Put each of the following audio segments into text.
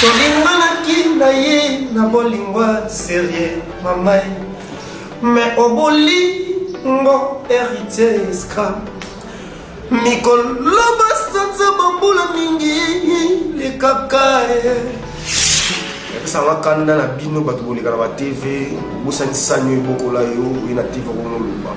Tolinganaki na ye na bolingo serieux mamay Mais obolingo heritier scram Mikolo basanza bambula mingi likaka ye esanga kanda na bino bato bolekana ba tv bosani sani oyo ebokola yo oye na tv okomoloba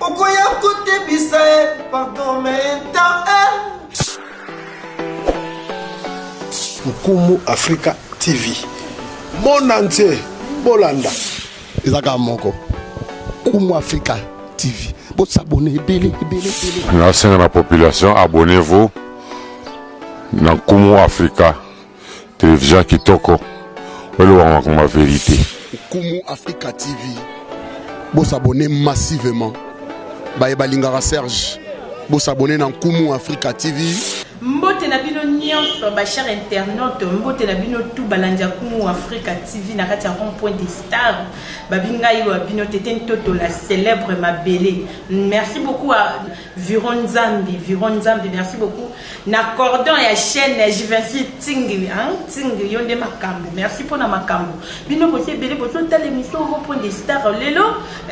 Okoya kotebisa e pardon menta e. Nkumu Africa TV. Monde entier bolanda. Eza kaka moko. Nkumu Africa TV. Bo s'abonner ebele ebele ebele. Nasenga na population abonnez-vous na Nkumu Africa. Television kitoko. Oloba makambo ya verite. Nkumu Africa TV bo s'abonner massivement baye balingaka Serge bo s'abonner na Nkumu Africa TV. mbote na bino nyonso bachar internaute mbote na bino tu balandi ya kumu africa tv na kati ya rond point de star babingai wa bino tete ntoto la célèbre mabele merci beaucoup Viron Nzambi, Viron Nzambi, merci beaucoup. Na cordon ya chaîne ya Jivinci Tingli, hein, Tingli, yo nde makambo. Merci mpo na makambo. Bino bosi ebele boso tala émission ngo mpo nde star lelo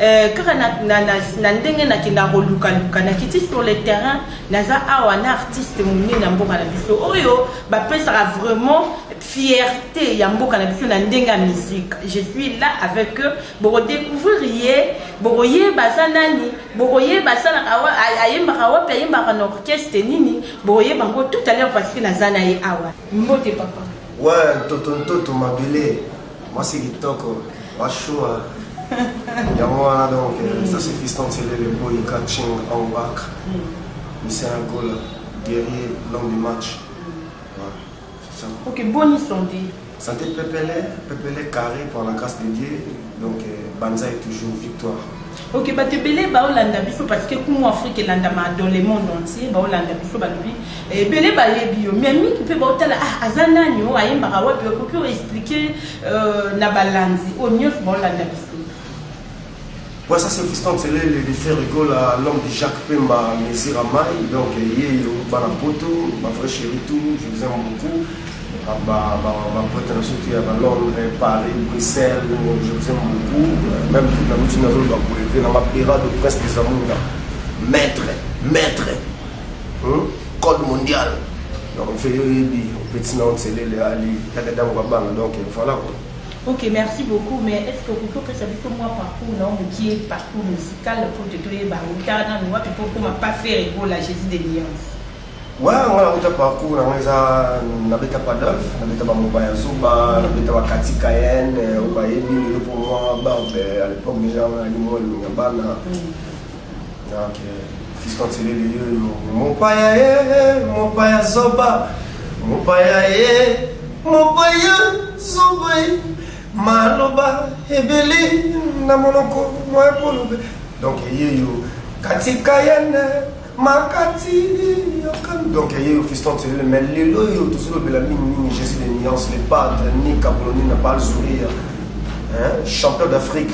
euh, kaka na, na, na, na ndenge nakenda koluka luka nakiti sur le terrain naza awa na artiste monene ya mboka na biso oyo bapesaka vraiment fierté ya mboka na biso na ndenge ya musique. Je suis là avec eux, bokodécouvrir ye, bokoyeba aza nani Bokoyeba asalaka wa, a, ayembaka wapi, ayembaka na orchestre nini, bokoyeba yango tout à l'heure parce que naza na ye awa. Mbote papa. Ouais, ntoto ntoto mabele, mwasi kitoko, wa shua. Yango wana donc, euh, ça c'est Fiston Selele Boy Catching on back. Misayangola, guerrier, l'homme du match. Ok, bon incendie. Santé pepele, pepele carré par la grâce de Dieu. Donc euh, Banza est toujours victoire. Ok, bato ebele baolanda biso parce que kumu Afrique elandama dans le monde entier, baolanda biso balobi eh, ebele bayebi yo mais mingi mpe baotala ah, aza nani oyo ayembaka wapi okoki oexplike euh, na balandi oyo nyonso baolanda biso Ouais ça c'est Fiston Celele le frère Gola l'homme de Jacques Pemba Mesir Amai donc yeyo bana poto ba vrai chéri tout je vous aime beaucoup ba ba ba pote na soki ya ba Londres Paris Bruxelles je vous aime beaucoup même toute la routine azolo ba bouleve na ma pera de presse des amours maître maître hein? code mondial donc mfe yo yebi petit na Celele ali ya dadango babana donc voilà quoi Ok merci beaucoup mais est ce que okoki kopesa biso mwa parcours nao mokie parcours musical pour te toyeba ota nanu wapi po okoma pa fere gola jesus de liance wa nga nauta parcours na nga eza nabeta padolf nabeta bamoba ya zoba nabeta bakati cayenne oyo bayebi lelo mpo mwa barbe à l'époque déjà wana alimwa elongi ya bana Fiston Selele yoyo mopaya ye mopaya zoba mopaya ye mopaya zoba ye maloba ebele na monoko moya kolobe donc yeyo katika yene makati yokan donc yeyo Fiston Selele mais lelo oyo tozolobela mingi mingi jesi de nuance le padre ni kabuloni na balzuria champion d'Afrique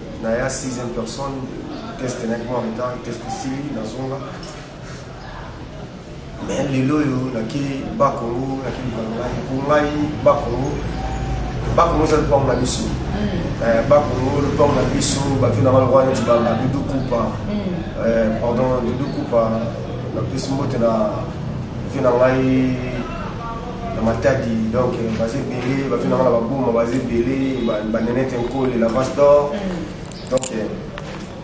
Naya sixième personne test nayaki mwa retard test esili nazonga me lelo oyo nake bakongo nake luka na ngai mpo ngai bakongo bakongo eza lopango na biso hmm. eh, bakongo lopango na biso bato na bango wana neti banga dudu kupa hmm. eh, pardon dudu kupa napesi mbote na vie na ngai na matadi donc baza ebele bavi nanga na baboma baza ebele banenete nkole la vache d'or mm. donc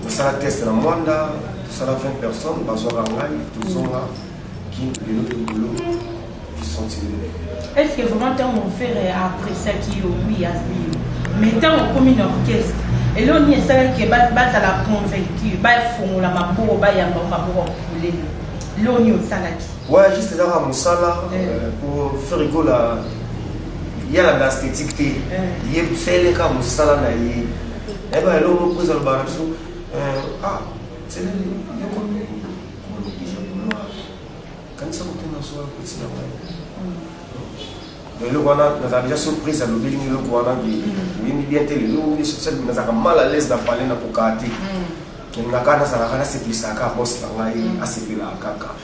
tosala test na mwanda tosala 20 personnes bazwaka ngai tozonga kin lelo tobolo bisentinele est ce que vraiment ntango mon frère appréciaki yo wi azwi yo mais ntango okomi na orchestre eloko nini esalaki bazala convaincu bafongola maboko bayamba maboko ya kolele eloko nini osalaki Ouais, juste eza kaka mosala pour ferigo la ye alanda esthétique te ye fele kaka mosala na ye nayeba eloko moko eza lobaka na biso ah seleli yokomi kolokija kuloa kanisa kotuna soa kotina wana eloko wana nazala deja surprise alobeli ngi eloko wana oyembi bien te lelo esosali nazalaka mal à l'aise na pale na kokaa te elingaka nazalaka nasepelisaka bos na ngai asepelaka kaka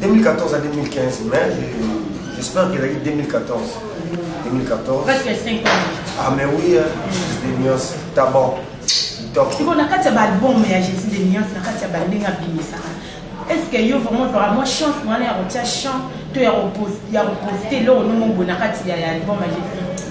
2014 à 2015, mais j'espère qu'il a eu 2014. 2014. Parce que 5 ans. Ah, mais oui, hein, Jésus des nuances, tabac. sikoyo na kati ya baalbum ya jésus de nuance na kati ya bandenge abimisaka est ce que yo vraiment ozwaka mwa chance wana ya kotia chant to ya koposte eloko nongo boye na kati ya album ya jésus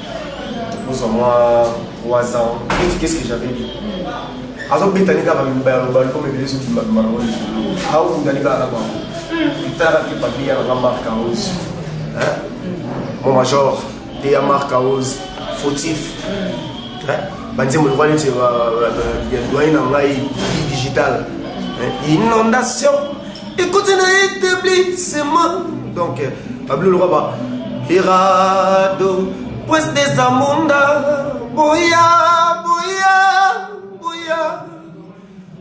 ozwa mwa 3 ans eti qu'est ce que j'avais dit azobeta ni kaka baloba lokola ebele ezobima bima nango likolo aokunda ni kaka na bango etalaka te papier ya nanga marc arose mon major te ya marc arose fautif banzembo lokola neti ya doyen na ngai digital inondation Écoutez, na établissement. Donc, Pablo Roba, Irado, pues des amunda, boya, boya, boya.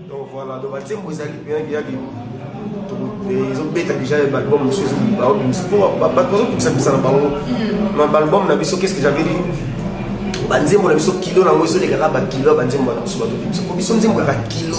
Donc voilà, donc batembo ezali mpenza kiyaki ezobeta déjà balbum mosusu baobimisa mpo bato bazokokisa bisa na bango ma balbum na biso qu'est ce que j'avais dit banzembo na biso kilo nango ezolekaka bakilo ya banzembo na biso bazobimisa mpo biso nzembo yaka kilo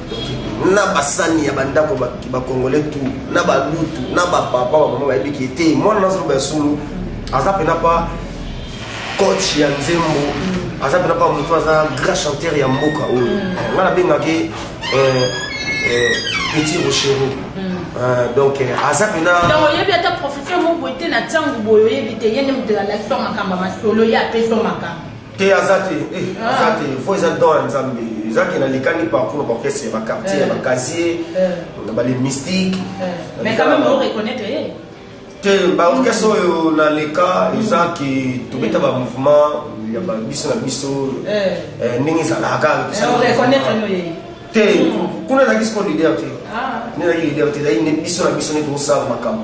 na basani ya bandako bakongole tu na balutu na bapapa bamama bayebi ke te mwana nazoloba ya solo aza mpena pa coach ya nzembo aza mpena pa moto aza grand chanteur ya mboka oyo mm. ngai nabengaki eh, eh, petit rochero mm. eh, donc aza mpena oyebi ata professeur moko ete na ntango boye oyebi te ye nde moto alakisa makambo masolo ye apesa makambo te aza te eh, ah. aza te fo eza don ya nzambe eza ke nalikani parcours na orchestre ya baquartier ya eh. bacasier eh. na bale mystique te baorchestre oyo naleka eza ke tobeta bamouvement ya biso na biso ndenge ezalaka te hmm. kuna ezalaki siko lider te ah. nde ezalaki lider te ezalaki biso na biso nde tokosala makambo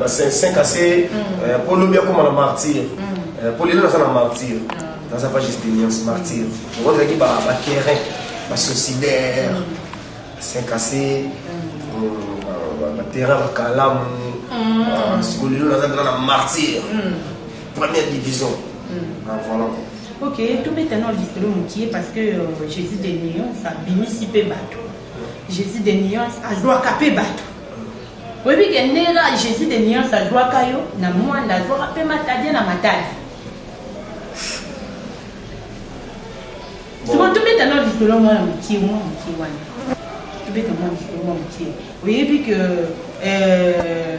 ba 5 ase mpo lobi akoma na martyr mpo lelo naza na martyr naza pas juste deliance martyr okozalaki bakerin basocidaire 5 ase batera bakalamu siko lelo naza mpenza na martyr première division voilà ok tobeta na lisolo mokie parce que jésus de lion abimisi mpe bato Jesus de nuance azwaka pe bato oyebi ke nera Jesus de nuance azwaka yo na mwanda azwaka pe matadi na matadi sima tobeta na lisolo mwana mokie mwa mokie wana tobeta mwa lisolo mwa mokie oyebi ke euh,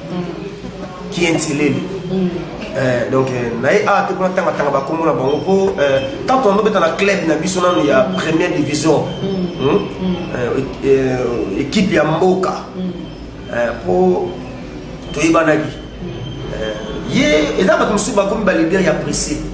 kienselele mm. eh, donc eh, naye awa ah, te kuna tangatanga bakombo na bango mpo eh, ntango tondobeta na club na biso nano ya mm. première division mm. hmm? équipe ya mboka mpo toyebanaki ye eza bato mosusu bakomi balidere ya presse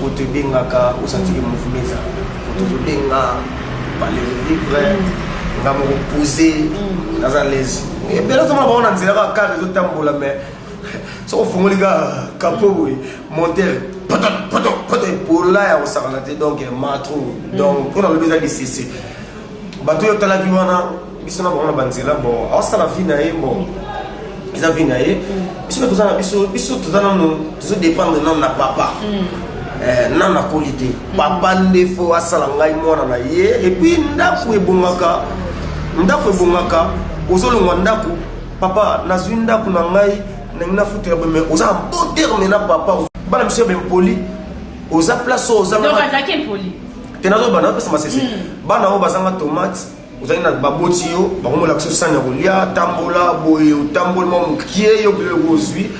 Moto ebengaka osantiki mouvement eza moto ezobenga pale vivre nga moko pose naza lese ebele ozomona bango na nzela kaka kare ezotambola mais soki ofungoli ka kapo boye monter poto poto poto epola ya kosakana te donc matro donc mpo nalobi eza lisese bato oyo otalaki wana biso na bango na banzela bo aosala vi na ye bo eza vi na ye biso mpe toza na biso biso toza nano tozo dépendre nano na papa mm. eh, na nakoli te mm. papa nde fo asala ngai mwana na ye epuis ndako ebongaka ndako ebongaka ozolongwa ndako papa nazwi ndako na ngai ndenge nafutela boye mais oza na bon terme na papa bana biso ya bempoli oza place oyo ozanga te nazobanda napesa masese hmm. bana oyo bazanga tomate ozali na baboti yo bakomolakisa osani ya kolia tambola boye otamboli mwa mokie yo bebe oyo ozwi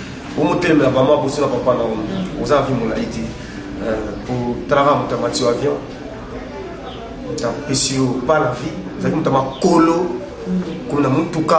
omotelemela bama bosi na papa na yo hmm. oza na vi molai te euh, potalaka moto amati yo avion moto apesi yo pa na vie ozalaki moto ya makolo hmm. komona motuka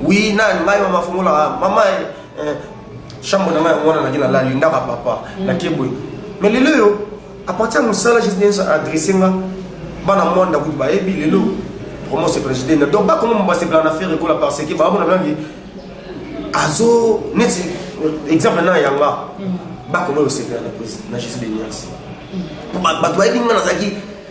Oui, nani ngai mama fongola ah, mama eh, eh, chambre na ngai mwana naki nalali ndaka papa mm. nake boye mais lelo oyo à partir ya mosala juste ndenso adresse nga bana mwa ndako ti bayebi lelo vraiment c'est président donc bakoma mobasepela na faire ekola parce que baamona nangi azo neti exemple na yanga mm. bakoma yosepela na jesus benias mm. bato bayebi nga nazalaki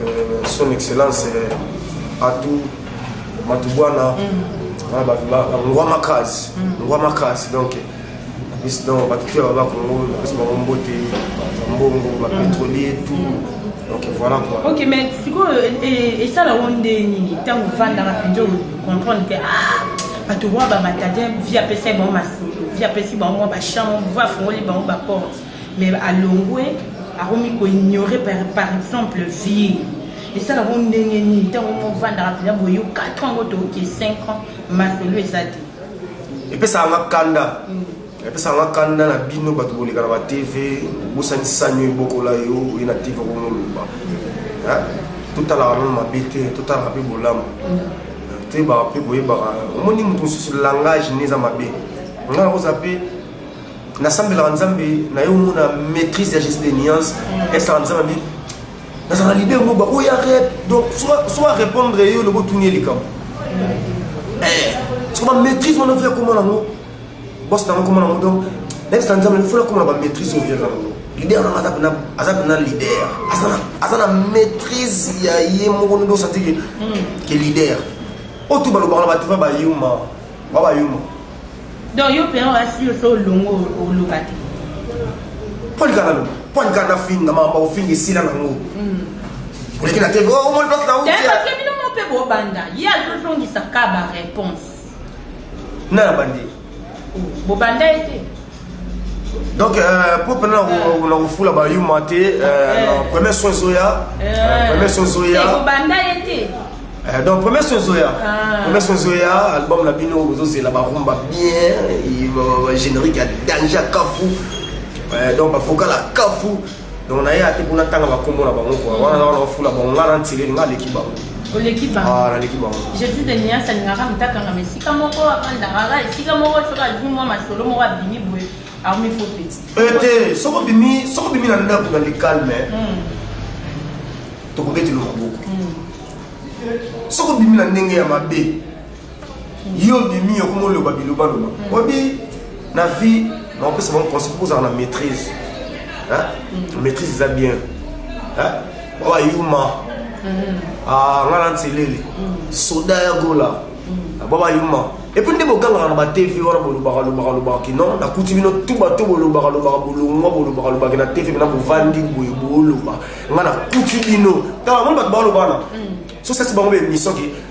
Euh, son excellence euh, Atou Matubwana, mm. ah, bah, bah, bah, Ngwa Makaz, mm. Ngwa Makaz, donc, bis donc, bah, tout là-bas, Congo, bis bah, Mbote, Mbongo, bah, mm. pétrolier, tout. Mm. Donc, voilà quoi. Ok, mais, c'est quoi, euh, et, et ça, la ronde, tant qu'on va dans la vidéo, comprendre que, ah, bato wana bamatadien vi apesaki bango masolo vi apesi bango mwa bachambre vi afongoli bango baporte mais alongwe akomi ko ignorer par, par exemple vie esala bo ndenge nini ntango mo ofandaka mpenza boye yo 4 ans ngo tooke 5 ans masolo eza te epesaka nga kanda mm. epesaka nga kanda na bino bato boleka na batv obosani sanio ebokola yo oye na tv okomoloba totalaka nano mabe te totalaka mpe bolamu mm. toyebaka mpe koyebaka omoni moto mosusu langage nde eza mabe nga nakozala mpe nasambelaka nzambe naye omona maîtrise ya juste de nuance esala nzambe abi nazala lide yango bakoya rep donc so arépondre ye olobi otuni ye likambo eh, soko bamaîtrise wana oya komona yango bos nango komona yango donc nayebisa nzambe fola komona bamaîtrise oya yango leader nanga aza pena aza pena leader aza na maîtrise ya ye moko nde osati ke leader oyo tu balobaka na bato va bayuma ba bayuma Donc yo père asi yo so longo oloka te. Poli kana lo, poli kana finga mamba ofingi sila na ngo. Mm. Oleki na TV, oh omoni place na uti. Tata tu bino mo pe bo banda. Ye azo zongisa ka ba réponse. Na bandi. Bo banda ete. donc euh, po mpena na kofula bayuma te euh, eh. na premier son ezoya eh. euh, premier son ezoya ekobanda ye te Euh, donc premier son ezoya ah. premier son ezoya album na bino bozozela barumba bien générique ya danger ya kafu donc bavocal ya kafu donc naye ate mpo natanga bakombo na bango kua wana wana ofula bango nga na ntileli nga aleki bango oleki bangonaleki bango ah, jesus de nias alingaka motakangama esika moko afandakaka esika moko soki azwi mwa masolo moko abimi boye akomi fo peti ete eh, soki obimi soki obimi na ndako na likalme hmm. tokobetela maboko hmm. soki obimi na ndenge ya mabe yo bimi okoma oloba bilobaloba mm. obi na vie nakopesa bango conseil mpo ozala na maîtrise mm. maîtrise eza bien oyo ayuma mm. ah, nga na nselele soda ya gola ah, baba yuma epuis nde bogangaka na batv wana bolobaka lobaka lobaka kino nakuti bino tu bato bolobaka lobaka bolongwa bolobaka lobaki na tv na bovandi boye boloba nga nakuti bino tala moni bato balobana so sasi bango baemission ke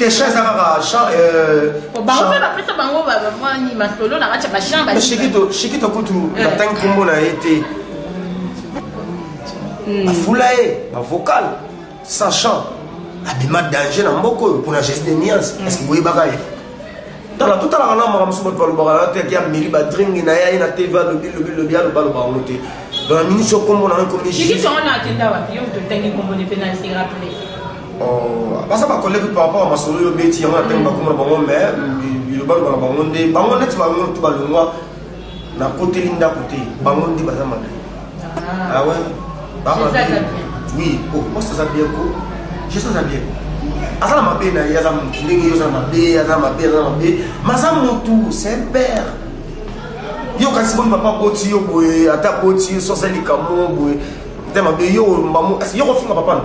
Kesha eza kaka chant euh bango pe bapesa bango ba mwani masolo na kati ya ba chant ba Shikito Shikito kutu eh. batangi kombo na ye te hmm. bafula ye bavocal sans chant abima danger na mboka oyo mpona geste de niance hmm. parceke boyebaka ye tala totalaka na makambo mosusu bato balobaka na teke ya meli badringi na ye aye na tv alobi lobi lobi aloba aloba yango te donc na minisi okombo na yo ekomi Oh, baza ba collègue par rapport ya masolo yo beti yango na ntango bakoma na bango mais bilobaloba na bango nde bango neti bango to balongwa na koteli ndako te bango nde baza mabe ah. awe ah oui oh, mwasi aza bien ko jesus aza bien aza na mabe na ye aza motu ndenge yo oza na mabe aza mabe aza na mabe ma aza motu c'est père yo kasi boni papa boti yo boye ata boti yo sosa likambo boye te mabe yo mbamo yo kofinga papa no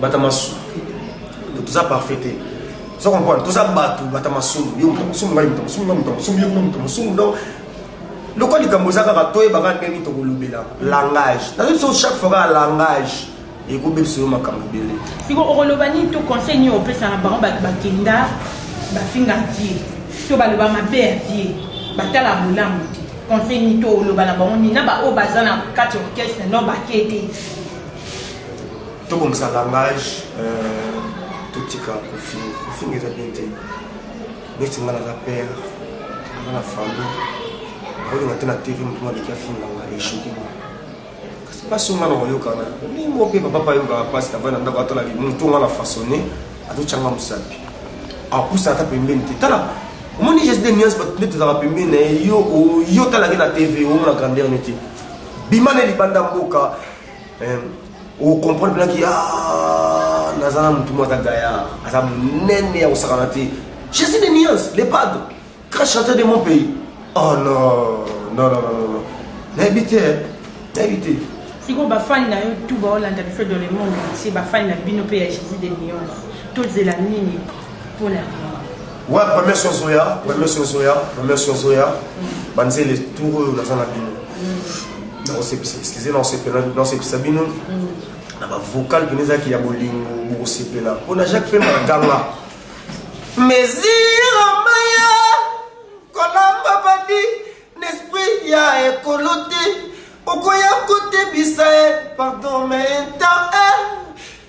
bata masumu toza parfait te oza comprendre toza bato bata masumu yo moto masumu ngai moto masumu ngai moto masumu yo moto masumu donc lokola likambo eza kaka toyeba kaka ndenge nini tokolobela langage nazo biso chaque fois kaka langage ekobebisa yo makambo ebele siko okoloba nini to conseil nini opesa na bango bato bakenda bafinga vie to baloba mabe ya vie batala bolamu te conseil nini to oloba na bango nini na baoyo baza na kati orchestre no bake te tobongisa langage euh, totika kofinga kofinga eza bien te neti nga naza père nga na famille olinga te na tv motu maleki afinga nga echoki kasi mpasi nga na koyokana ndimo mpe bapapa ayokaka mpasi tavai na ndako atalaki motu nga na façonne azotyanga mosapi apusa ata pembeni te tala omoni geste de nuance bato nde tozalaka pembeni na ye yo talaki na tv omona grandeur ne te bima na libanda mboka eh, okomprendre mpenaki ya ah, naza na motu moko aza gaya aza monene ya kosakana te jésus de nuance le padre grand chanteur de mon pays oh non non non non non nayebi te nayebi te sikoyo bafani na yo tu baolanda biso dans le monde entier bafani na bino mpe ya jésus de nuance tozela nini pona bino wa premier soir zoya premier soir zoya premier soir zoya banzele tour oyo naza na bino nakosepisa excuse nakosepisa bino na bavocal bino ezalaki ya bolingo bokosepela mpo na jacques pema na ganga mesire maya kolamba badi n'esprit ya ekolo te okoya kotebisa e pardon menta e eh.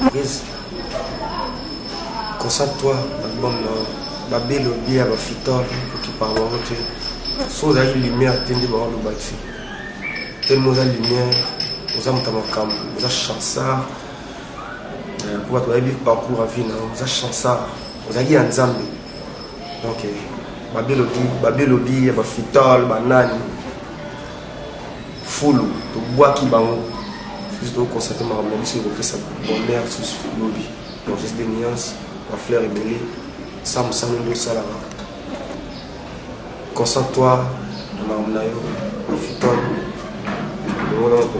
Maryse concentre toi album na yo babe lobi ya bafitor okipaka bango te so ozalaki lumière te nde baoloba te telema oza lumière oza moto ya makambo oza chansard euh, mpo bato bayebi parcours ya vie na yo oza chansard ozalaki ya nzambe donc babe lobi ya bafitor banani fulu tobwaki bango biso tokosate makambo na biso ekopesa bonheur susu lobi donc juste des nuances bafleur ebele sa mosala nde osalaka concentre toi na makambo na yo bafitole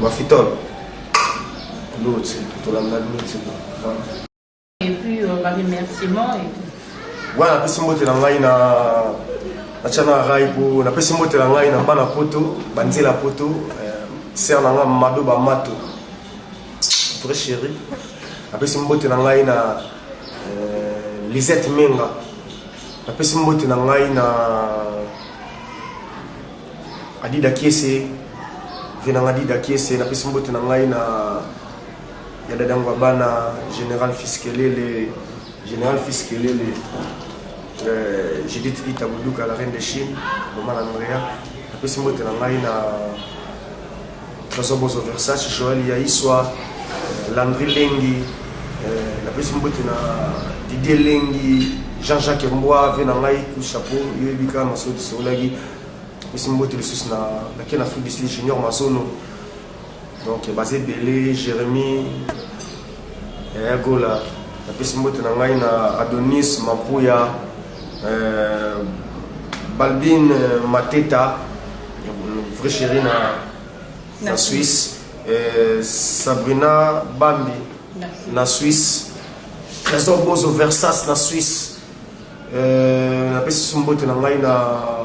bafitole loti tolanda loti Et puis euh, ba remerciements et tout. Voilà, na pesi mbote na ngai na natya na rai po na pesi mbote na ngai na bana poto banzela poto euh, ser na ngai mado bamato vrai chéri napesi mbote na ngai na euh, lisette menga napesi mbote na ngai na adida kiese ve na ngai adida kiese napesi mbote na ngai na ya dada ngwabana general fiskelele general fiskelele euh, judith ita boduka la reine de chine mama na norea apesi mbote na ngai na trésor bozo versace joel ya iswa euh, landri lengi euh, napesi mbote na didie lengi jean-jacques mbwa ve na ngai coup chapeau yoyebi kaka masodi sokolaki apesi mbote lisusu na lake na afrique du sud junior masono Donc baza ebele Jeremie Yaya Gola napesi mbote na ngai na Adonis Mampuya euh, Balbine euh, Mateta vrai chéri na, na, na Suisse euh, Sabrina Bambi na, na Suisse Trésor Bozo Versas na Suisse euh, napesi mbote na ngai na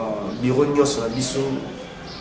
biro nyonso na biso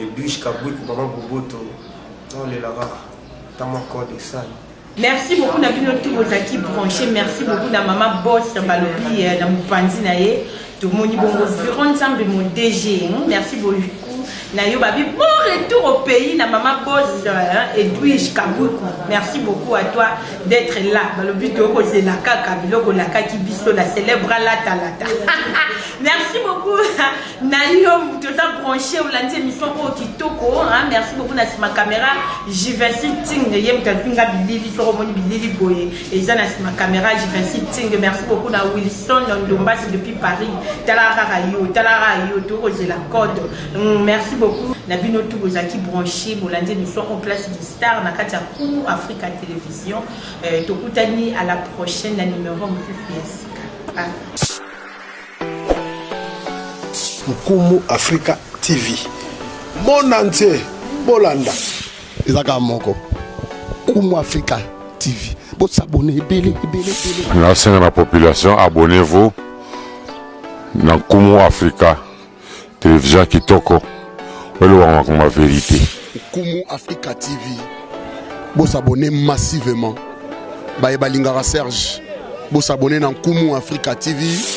Edwige Kabwiku maman Boboto naolela kaka ta mwa code esali Merci beaucoup na bino tout bozalaki branché merci beaucoup na mama boss balobi eh, na mopanzi na ye tomoni bongo viron nzambe mo DG hmm, merci beaucoup na yo babi bon retour au pays na mama boss eh, Edwige Kabuku merci beaucoup à toi d'être là balobi tokozela kaka biloko olakaki biso la célèbre latalata merci beaucoup na yo moto oza branche olandi émission oyo kitoko merci beaucoup na nsima caméra jivensi ting ye moto afinga bilili soko omoni bilili boye eza na nsima caméra jivensi ting merci beaucoup na wilson ndombasi depuis paris tala kaka yo tala kaka yo tokozela code mm, merci beaucoup na bino tu bozalaki branche bolandi émission en place du star na kati ya kumu africa télévision euh, tokutani à la prochaine na numéro mosusu ya sika ah. Nkumu Africa TV monde entier bolanda eza kaka moko Nkumu Africa TV bosabone ebele ebele ebele. Nasenga na population abonnez-vous na Nkumu Africa television kitoko olobaka makambo ya verite. Nkumu Africa TV bosabone massivement baye balingaka Serge bosabone na Nkumu Africa TV.